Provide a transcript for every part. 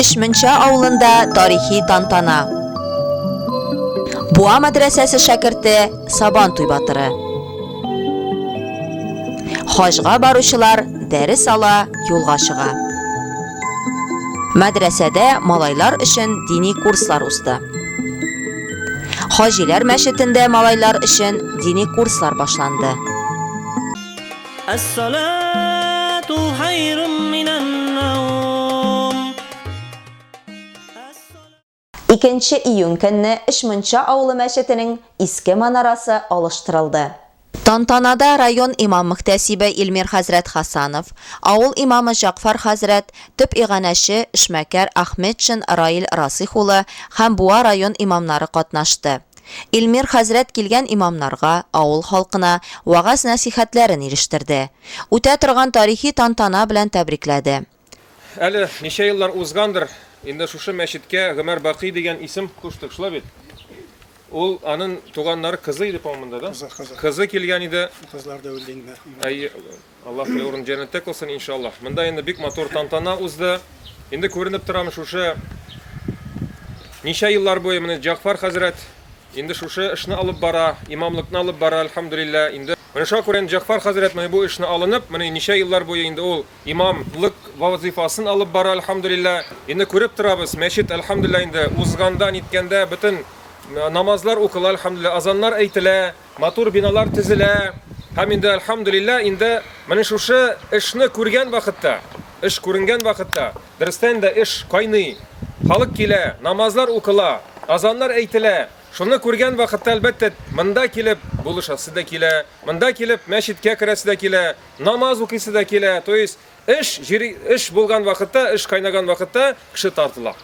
Өч Мунча авылында тарихи тантана. Буа мәдрәсәсе шәкерте Сабан туй батыры. Хаҗга баручылар дәрес ала, юлга чыга. Мәдрәсәдә малайлар өчен дини курслар узды. Хаҗиләр мәчетендә малайлар өчен дини курслар башланды. Әссалату хайрум минән наум. Икенче июнь көнне Эшмунча авылы мәчетенең иске манарасы алыштырылды. Тантанада район имам-мөхтәсибе Илмир хәзрәт Хасанов, авыл имамы Җәгъфар хәзрәт, төп иганәче, эшмәкәр Ахметшин Раил Расыйх улы һәм Буа район имамнары катнашты. Илмир хәзрәт килгән имамнарга, авыл халкына вәгазь-нәсыйхәтләрен ирештерде. Үтә торган тарихи тантана белән тәбрикләде. Әле ничә еллар узгандыр, инде шушы мәчеткә Гомәр Бакый дигән исем куштык, шулай бит? Ул, анын туганнары кызы иде, по-моему, монда, да? Кызы, кызы. Кызы килгән иде. Кызлар да үлде инде. Әйе. Аллаһы урын җәннәттә кылсын иншаллаһ. Монда инде бик матур тантана узды. Инде күренеп торам шушы ничә еллар буе менә Җагъфар хәзрәт инде шушы эшне алып бара, имамлыкны алып бара, альхамдулилла. Инде менә шуңа күрә инде Җагъфар хәзрәт менә бу эшне алынып, менә ничә еллар буе инде ул имамлык вазыйфасын алып бара, альхамдулилла. Инде күреп торабыз, мәчет, альхамдулилла, инде узганда, ниткәндә бөтен намазлар укыла, альхамдулилла, азаннар әйтелә. Матур биналар төзелә һәм инде, әлхәмдүлилләһ, инде менә шушы эшне күргән вакытта, эш күренгән вакытта, дөрестән дә эш кайный, халык килә, намазлар укыла, азаннар әйтелә, шуны күргән вакытта, әлбәттә, монда килеп булышасы да килә, монда килеп мәчеткә керәсе дә килә, намаз укыйсы да килә, то есть Эш, җири, эш булган вакытта, эш кайнаган вакытта кеше тартыла.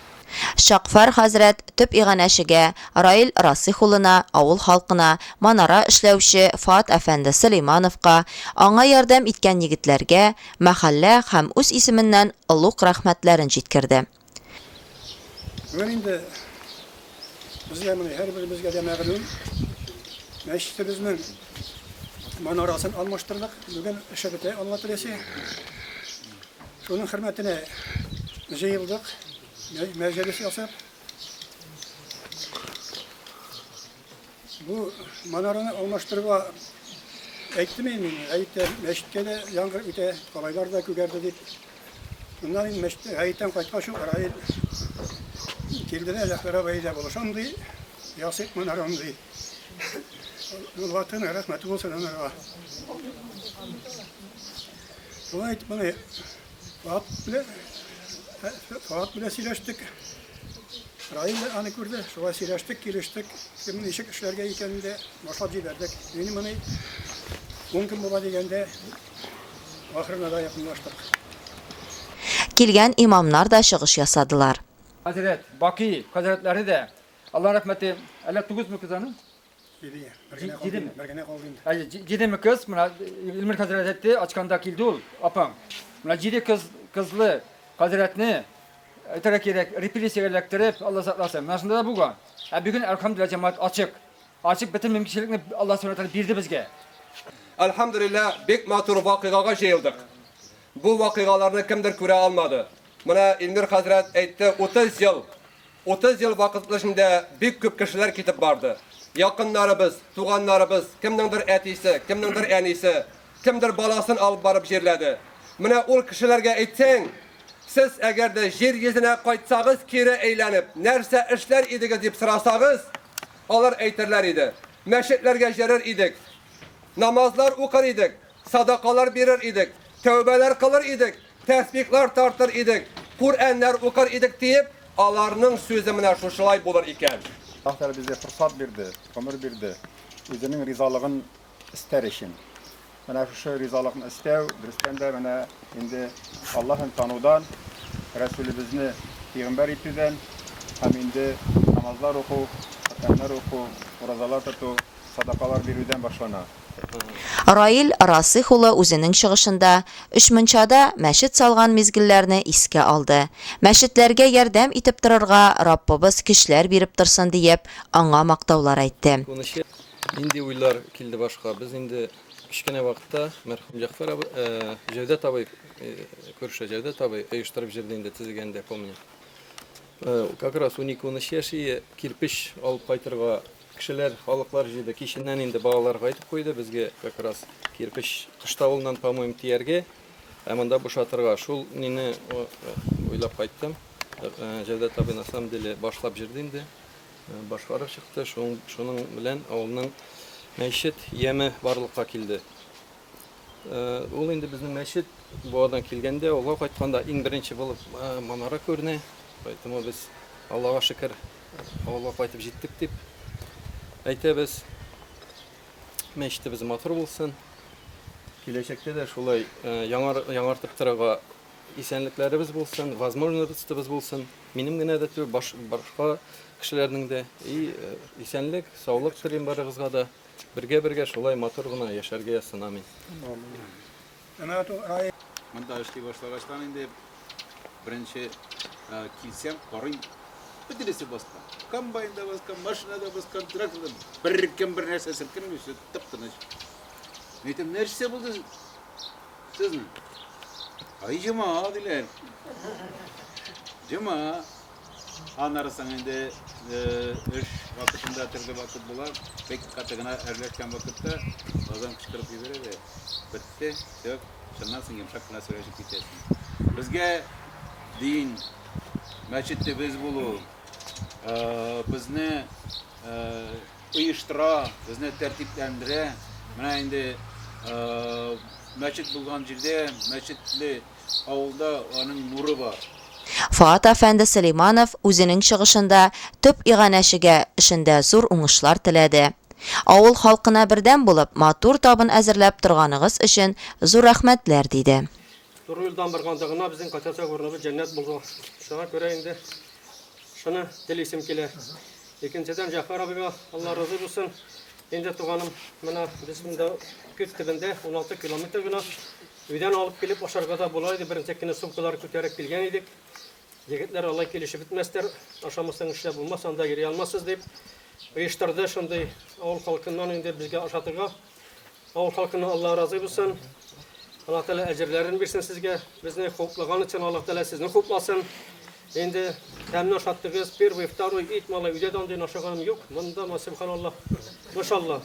Чакфар хәзрәт төп иганәчегә, Раил Расыйх улына, авыл халкына, манара эшләүче Фоат әфәнде Сөләймановка, аңа ярдәм иткән егетләргә, мәхәллә һәм үз исеменнән олуг рәхмәтләрен җиткерде. Бүген инде безгә моны һәрберебезгә дә мәгълүм. Мәчетебезнең манарасын алмаштырдык. Бүген эше бетә, Алла теләсә. Шуның хөрмәтенә җыелдык, мәҗ- мәҗлес ясап. Бу манараны алмаштыруга әйттем инде мин, гаеткә, мәчеткә дә яңгыр үтә, калайлар да күгәрде дип. Моннан инде мәчет, гаеттән кайткач ук Раил килде дә, Зәфәр абый, әйдә булышам, ди, ясыйк манараны, ди. Ул ватыны рәхмәте булсын анарга. Шулай итеп, моны Фоат белән, Фоат белән сөйләштек. Раил дә аны күрде, шулай сөйләштек, килештек, кем ничек эшләргә икәнен дә башлап җибәрдек. Мин моны ун көн була дигәндә, ахырына да якынлаштык. Килгән имамнар да чыгыш ясадылар. Хәзрәт Бакый хәзрәтләре дә, Алла рәхмәте, әллә тугызмы кыз аның? Лилия, бер генә калды инде, бер генә калды инде. Әйе, җидеме кыз, менә Илмир хәзрәт әйтте, ачканда килде ул, апаң. Менә җиде кыз, кызлы хәзрәтне әйтергә кирәк, репрессиягә эләктереп, Алла сакласын. Менә шунда да булган. Ә бүген әлхәмдулилла җәмәгать ачык. Ачык бөтен мөмкинчелекне Алла Субхану ва бирде безгә. Әлхәмдулилла, бик матур вакыйгага җыелдык. Бу вакыйгаларны кемдер күрә алмады. Менә Илмир хәзрәт әйтте, 30 ел Утыз ел вакыт эчендә бик күп кешеләр китеп барды. Якыннарыбыз, туганнарыбыз, кемнеңдер әтисе, кемнеңдер әнисе, кемдер баласын алып барып җирләде. Менә ул кешеләргә әйтсәң, Сез әгәр дә җир йөзенә кайтсагыз кире әйләнеп, нәрсә эшләр идегез дип сорасагыз, алар әйтерләр иде, Мәчетләргә җөрер идек, намазлар укыр идек, садакалар бирер идек, тәүбәләр кылыр идек, Тәсбихлар тартыр идек, Күръәннәр укыр идек, диеп, аларның сүзе менә шушылай булыр икән. Аллаһ Тәгалә безгә форсат бирде, гомер бирде, Үзенең ризалыгын эстәр өчен. Менә шушы ризалыкны эстәү, дөрестән дә, менә инде Аллаһын танудан, Рәсүлебезне пигамбәр итүдән һәм инде намазлар уку, Коръәннәр уку, уразалар тоту, садакалар бирүдән башлана. Раил Расыйх улы үзенең чыгышында Өчмунчада мәчет салган мизгелләрне искә алды. Мәчетләргә ярдәм итеп торырга Раббыбыз көчләр биреп торсын диеп, аңа мактаулар әйтте. Унынчы нинди уйлар килде башка? Без инде кечкенә вакытта мәрхүм Җәгъфәр абый, Җәүдәт абый, күрше Җәүдәт абый оештырып җырды инде, төзегәндә, помним. Как раз унике-унөч яшь ие кирпеч алып кайтырга Кешеләр, халыклар җыйды. Киченнән инде балалар кайтып куйды, безгә как раз кирпеч кыштавылыннан, по-моему, тияргә, ә монда бушатырга. Шул нине уйлап кайттым. Җәүдәт абый на самом деле башлап җырды инде, башкарып чыкты. Шуның белән авылның мәчет яме барлыкка килде. Ул инде безнең мәчет Буадан килгәндә, авылга кайтканда иң беренче булып манара күренә. Поэтому без, Аллага шөкер, Авылга кайтып җиттек дип әйтәбез. Мәчетебез матур булсын. Киләчәктә дә шулай э, яңар, яңартып торырга исәнлекләребез булсын, возможностыбыз булсын. Минем генә дә түгел, баш, башка кешеләрнең дә. И э, исәнлек, саулык телим барыгызга да. Бергә-бергә шулай матур гына яшәргә язсын. Амин. Монда эшли башлагачтан инде беренче килсәм, карыйм, бөтенесе баскан. Комбайн да баскан, машина да баскан, трактор да. Беркем бер нәрсә селкенми, все тып-тыныч. Мин әйтәм, нәрсә булды сезнең? Ай, җома, диләр. Җома. Аннары соң инде эш вакытында төрле вакыт була. Бик каты гына әрләшкән вакытта газдан кычкырып җибәрә дә бетте, все. Шуннан соң йомшак кына сөйләшеп китәсең. Безгә дин, мәчет төбез булу, безне оештыра, безне тәртипләндерә. Менә инде мәчет булган җирдә мәчетле авылда аның нуры бар. Фоат әфәнде Сөләйманов үзенең чыгышында төп иганәчегә эшендә зур уңышлар теләде. Авыл халкына бердәм булып, матур табын әзерләп торганыгыз өчен зур рәхмәтләр, диде. Туры юлдан барганда гына безнең кайчачак урыныбыз җәннәт булды. Шуңа күрә инде шуны телисем килә. Икенчедән, Җәгъфәр абыйга Алла разый булсын. Инде, туганым, менә без монда күз төбендә, уналты километр гына. Өйдән алып килеп ашарга да була иде, бернчәккенә сумкалар күтәреп килгән идек. Егетләр алай килешеп бетмәстәр, ашамасаң эшләп булмас, анда йөри алмассыз дип, оештырды шундый авыл халкыннан инде безгә ашатырга. Авыл халкыннан Алла разый булсын. Алла Тәгалә әҗерләрен бирсен сезгә. Безне хуплаган өчен Алла Тәгалә сезне хупласын. Инде тәмле ашаттыгыз, первый, второй, ит малай, өйдә дә андый ашаганым юк. Монда, ма, сөбханаллаһ, машаллаһ.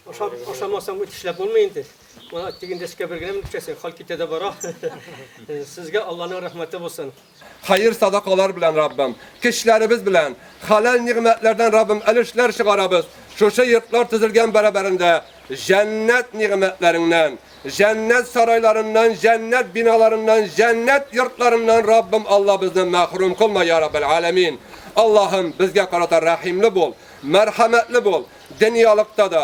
Ашап, ашамасаң бит эшләп булмый инде. Мана тиген дәшкә бер генә мөкчәсен, хал китә дә бара. Сезгә Алланың рәхмәте булсын. Хәер садакалар белән Раббым, кечләребез белән, халәл нигъмәтләрдән Раббым әлешләр чыгарабыз. Шушы йортлар төзелгән бәрабәрендә җәннәт нигъмәтләреңнән, җәннәт сарайларыннан, җәннәт биналарыннан, җәннәт йортларыннан Раббым Алла безне мәхрүм кылма, я Раббел Аләмин. Аллаһым, безгә карата рәхимле бул, мәрхәмәтле бул, дөньялыкта да,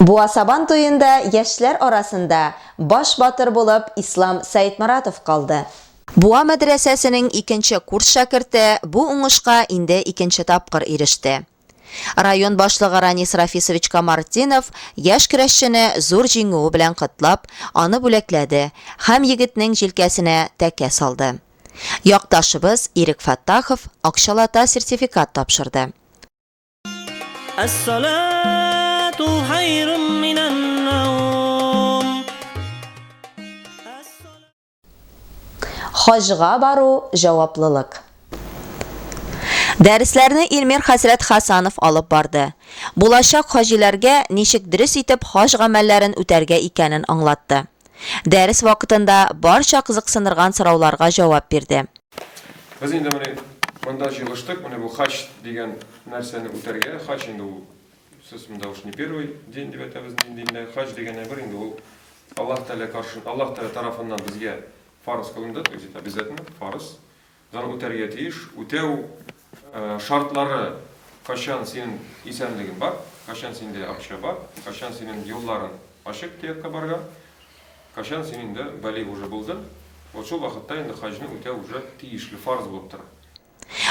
Буа Сабан туенда яшьләр арасында баш батыр булып Ислам Сәетморатов калды. Буа мәдрәсәсенең икенче курс шәкерте бу уңышка инде икенче тапкыр иреште. Район башлыгы Ранис Рафисович Камартдинов яшь көрәшчене зур җиңүе белән котлап, аны бүләкләде һәм егетнең җилкәсенә тәкә салды. Якташыбыз Ирек Фәттахов акчалата сертификат тапшырды. Әс-салату хайрун минән наум. Хаҗга бару җаваплылык. Дәресләрне Илмир хәзрәт Хәсанов алып барды. Булачак хаҗиләргә ничек дөрес итеп хаҗ гамәлләрен үтәргә икәнен аңлатты. Дәрес вакытында барча кызыксындырган сорауларга җавап бирде. Без инде менә монда җыелыштык, менә бу хач дигән нәрсәне үтәргә. Хач инде ул сез монда уж не первый день дип әйтәбез мин диндә. Хач дигән әйбер инде ул Аллаһ Тәгалә каршы, Аллаһ Тәгалә тарафыннан безгә фарыз кылынды, то есть это обязательно, фарыз. Дан үтәргә тиеш, үтәү шартлары кайчан синен исәнлеген бар, кайчан синдә акча бар, кайчан синен юлларын ачык төяккә барган, кайчан син инде балигъ уже булдын, вот шул вакытта инде хаҗны үтәү уже тиешле, фарз булып тора.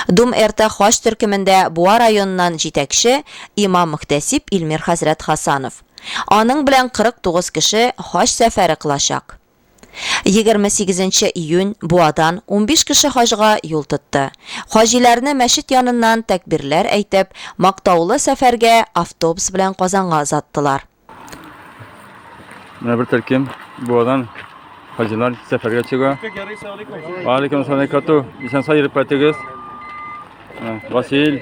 Дум эрта хаҗ төркемендә Буа районыннан җитәкче имам-мөхтәсиб Илмир хәзрәт Хасанов. Аның белән 49 кеше хаҗ сәфәре кылачак. Егерме сигезенче июнь, Буадан унбиш кеше хаҗга юл тотты. Хаҗиләрне мәчет яныннан тәкбирләр әйтеп, мактаулы сәфәргә автобус белән Казанга озаттылар. Менә бер төркем Буадан хаҗилар сәфәргә чыга. Алейкум салам, Кату. Исән-сау йөреп кайтыгыз. Васил,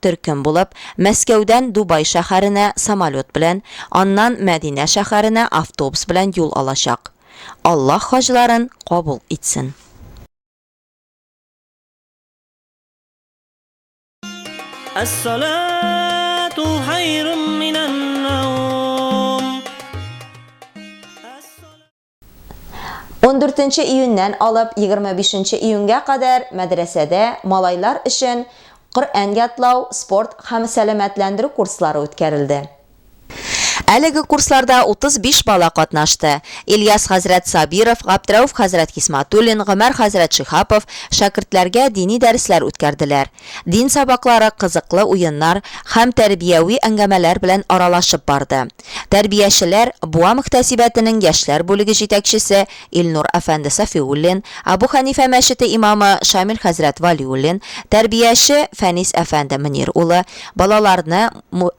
төркем булып, Мәскәүдән Дубай шәһәренә самолет белән, аннан Мәдинә шәһәренә автобус белән юл алачак. Аллаһ хаҗларын кабул итсен. Әссалату хайрум минән наум. 14 нче июньнән алып 25 нче июньгә кадәр мәдрәсәдә малайлар өчен Коръән ятлау, спорт һәм сәламәтләндерү курслары үткәрелде. Әлеге курсларда 35 бала катнашты. Ильяс хәзрәт Сабиров, Габдрәүф хәзрәт Хисматуллин, Гомәр хәзрәт Шиһапов шәкертләргә дини дәресләр үткәрделәр. Дин сабаклары кызыклы уеннар һәм тәрбияви әңгәмәләр белән аралашып барды. Тәрбиячеләр Буа мөхтәсибәтенең яшьләр бүлеге җитәкчесе Илнур әфәнде Сафиуллин, Абу Хәнифә мәчете имамы Шамил хәзрәт Вәлиуллин, тәрбияче Фәнис әфәнде Мөнир улы, балаларны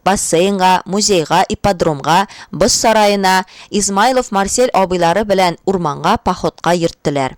бассейнга, музейга, ипподромга, боз сараена, Измайлов Марсель абыйлары белән урманга походка йөрттеләр.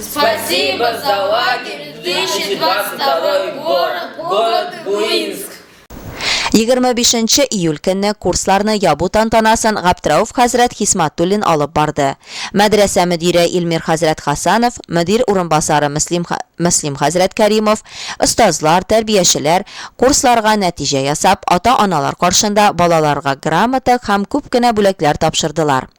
Спасибо за лагерь 2022 город, город Буинск. 25 июль көнне курсларны ябу тантанасын Габдрәүф хәзрәт Хисматуллин алып барды. Мәдрәсә мөдире Илмир хәзрәт Хасанов, мөдир урынбасары Мөслим, Мөслим хәзрәт Кәримов, остазлар, тәрбиячеләр, курсларга нәтиҗә ясап, ата-аналар каршында балаларга грамота һәм күп кенә бүләкләр тапшырдылар.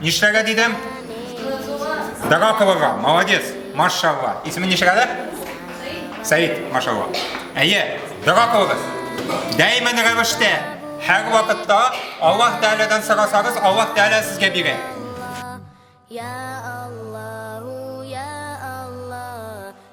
Нишләгә дидем? Дага кылырга. Молодец. Машалла. Исеме ничек әле? Сәид, машалла. Әйе, дога кылыгыз. Дәймен рәвештә һәр вакытта Аллаһ Тәгаләдән сорасагыз, Аллаһ Тәгалә сезгә бирә.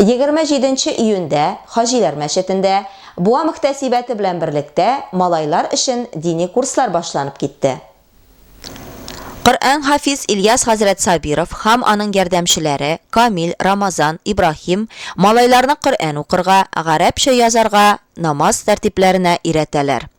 27 нче июньдә Хаҗиләр мәчетендә Буа мөхтәсибәте белән берлектә малайлар өчен дини курслар башланып китте. Коръән хафиз Ильяс хәзрәт Сабиров һәм аның ярдәмчеләре Камил, Рамазан, Ибраһим малайларны Коръән укырга, гарәпчә язарга, намаз тәртипләренә өйрәтәләр.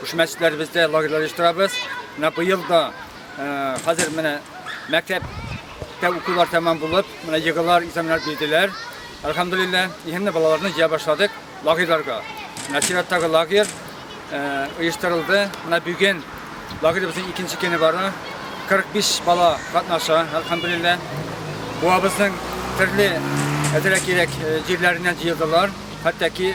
Шушы мәчетләребездә лагерьлар оештырабыз. Менә быел да хәзер менә мәктәптә укулар тәмам булып, менә егылар, экзаменнар бирделәр. Әлхәмдулилла, исемле балаларны җыя башладык лагерьларга. Менә чираттагы лагерь оештырылды. Менә бүген лагеребезнең икенче көне бара. 45 бала катнаша, әлхәмдулилла. Буабызның төрле әзрәк-ирәк җирләреннән җыелдылар. Хәтта ки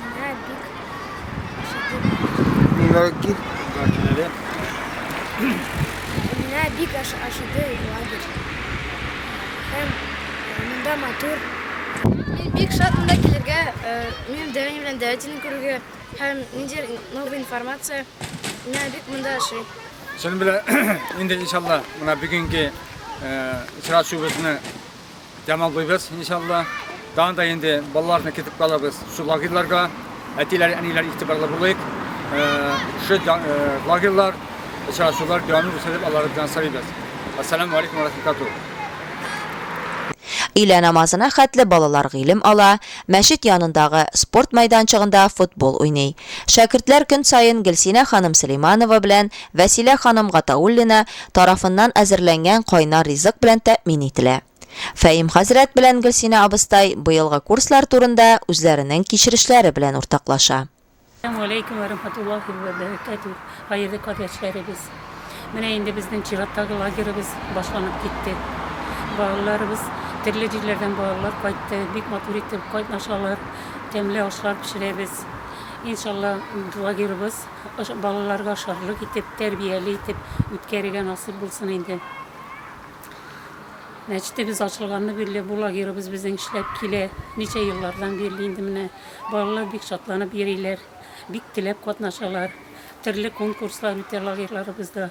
Менә бик ашыгу. Менә кит. Гачнәле. Менә бик ашыгу лагерь. Һәм монда матур. Мин бик шат монда килергә, минем дәвәни белән дәвәтине күрергә һәм ниндидер новая информация. Менә бик монда ашый. Шуның белән инде иншалла, менә бүгенге очрашуыбызны Тәмамлыйбыз, иншалла. Тагын да инде балаларны кертеп калабыз шул лагерьларга. Әтиләр, әниләр игътибарлы булыйк. Шул лагерьлар, очрашулар дәвамлы булсын дип Аллага белән сорыйбыз. Ассаламу алейкум ва рахматуллаһи. Өйлә намазына хәтле балалар гыйлем ала, мәчет янындагы спорт мәйданчыгында футбол уйный. Шәкертләр көн саен Гөлсинә ханым Сөләйманова белән Вәсилә ханым Гатауллина тарафыннан әзерләнгән кайнар ризык белән тәэмин ителә. Фәим хәзрәт белән Гөлсинә абыстай быелгы курслар турында үзләренең кичерешләре белән уртаклаша. Әссәламү аләйкүм вә рәхмәтуллаһи вә бәрәкәтүһ, хәерле кардәшләребез! Менә инде безнең чираттагы лагеребыз башланып китте. Балаларыбыз, төрле җирләрдән балалар кайтты, бик матур итеп катнашалар, тәмле ашлар пешерәбез. Иншалла, лагерыбыз Балаларга шатлык итеп, тәрбияле итеп үткәрергә насыйп булсын инде. Мәчетебез ачылганны бирле бу лагерыбыз безнең эшләп килә. Ничә еллардан бирле инде менә балалар бик шатланып йөриләр, бик теләп катнашалар. Төрле конкурслар үтә лагерьларыбызда.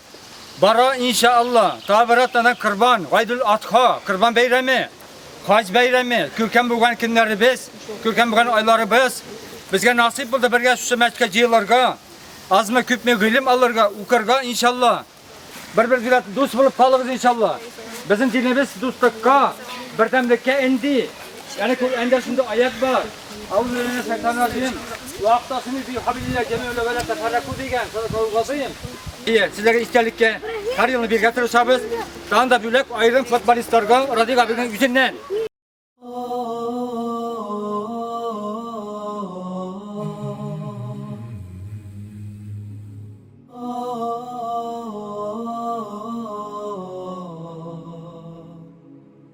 Бара инша Алла, табырат ана корбан, гайдул атха, корбан бәйрәме, хаҗ бәйрәме, күркәм булган көннәребез, күркәм булган айларыбыз. Безгә насыйп булды бергә шушы мәчкә җыелырга, азмы күпме гыйлем алырга, укырга инша Алла. Бер-бергә дус булып калыгыз инша Алла. Безнең динебез дустыкка, бердәмлеккә энди. Яни күп әндә шундый аят бар. Сезләргә истәлеккә һәр елны биргә тырышабыз. Дан да бүләк аерым футболистларга Радик абыйның үзеннән.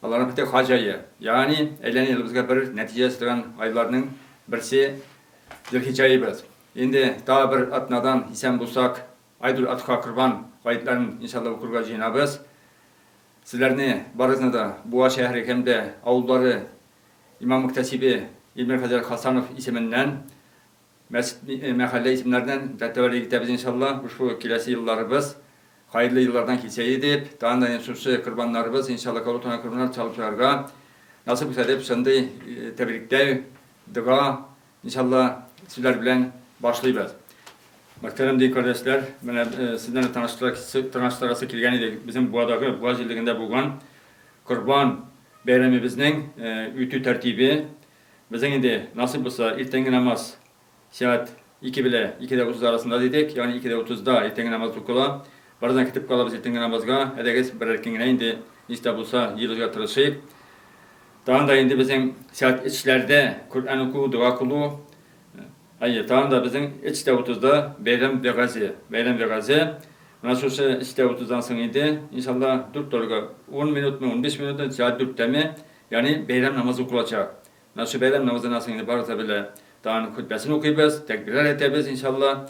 Аларның бите хаҗ ае, ягъни әйләнә елыбызга бер нәтиҗә ясатылган айларның берсе Зөлхиҗҗә аебыз. Инде тагы бер атнадан, исән булсак, Айдул-Адха, Корбан, гаетләрен, иншалла, укырга җыенабыз. Сезләрне барыгызны да Буа шәһәре һәм дә авыллары имам-мөхтәсибе Илмир хәзрәт Хасанов исеменнән Мәчет, мәхәллә исемнәреннән дә тәвәллек итәбез иншалла, шушы киләсе елларыбыз хәерле еллардан килсә иде дип, тагын да инде шушы корбаннарыбыз иншалла кабул кылынган корбаннар чалып чыгарга насыйп булса дип, шундый тәбрикләү, дога иншалла сүзләр белән башлыйбыз. Мөхтәрәм дин кардәшләр, менә сезне дә таныштырасы, таныштырасы килгән иде, безнең Буадагы, Буа җирлегендә булган Корбан бәйрәмебезнең үтү тәртибе, Безнең инде, насыйп булса, иртәнге намаз сәгать ике белә ике дә утыз арасында дидек, ягъни ике дә утызда иртәнге намаз укыла. Бераздан китеп калабыз иртәнге намазга, әйдәгез, берәр көн генә инде ничек тә булса җыелырга тырышыйк. Тагын да инде безнең сәгать өчләрдә Коръән уку, дога кылу. Әйе, тагын да безнең өч тә утызда бәйрәм вәгазе. Бәйрәм вәгазе. Менә шушы өч тә утыздан соң инде, иншалла, дүрт торырга ун минутмы, унбиш минутмы, сәгать дүрттәме, Ягъни бәйрәм намазы укылачак. Менә шул бәйрәм намазын асын инде барыбыз да белә. Тагын хөтбәсен укыйбыз, тәкбирләр әйтәбез, иншалла.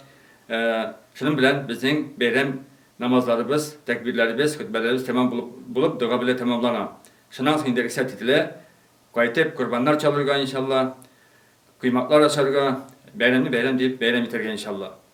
Шуның белән безнең бәйрәм намазларыбыз, тәкбирләребез, хөтбәләребез тәмам булып булып, дога белән тәмамлана. Шуннан соң инде рөхсәт ителә кайтып корбаннар чалырга, иншалла, коймаклар ашарга, бәйрәмне бәйрәм дип бәйрәм итәргә, иншалла.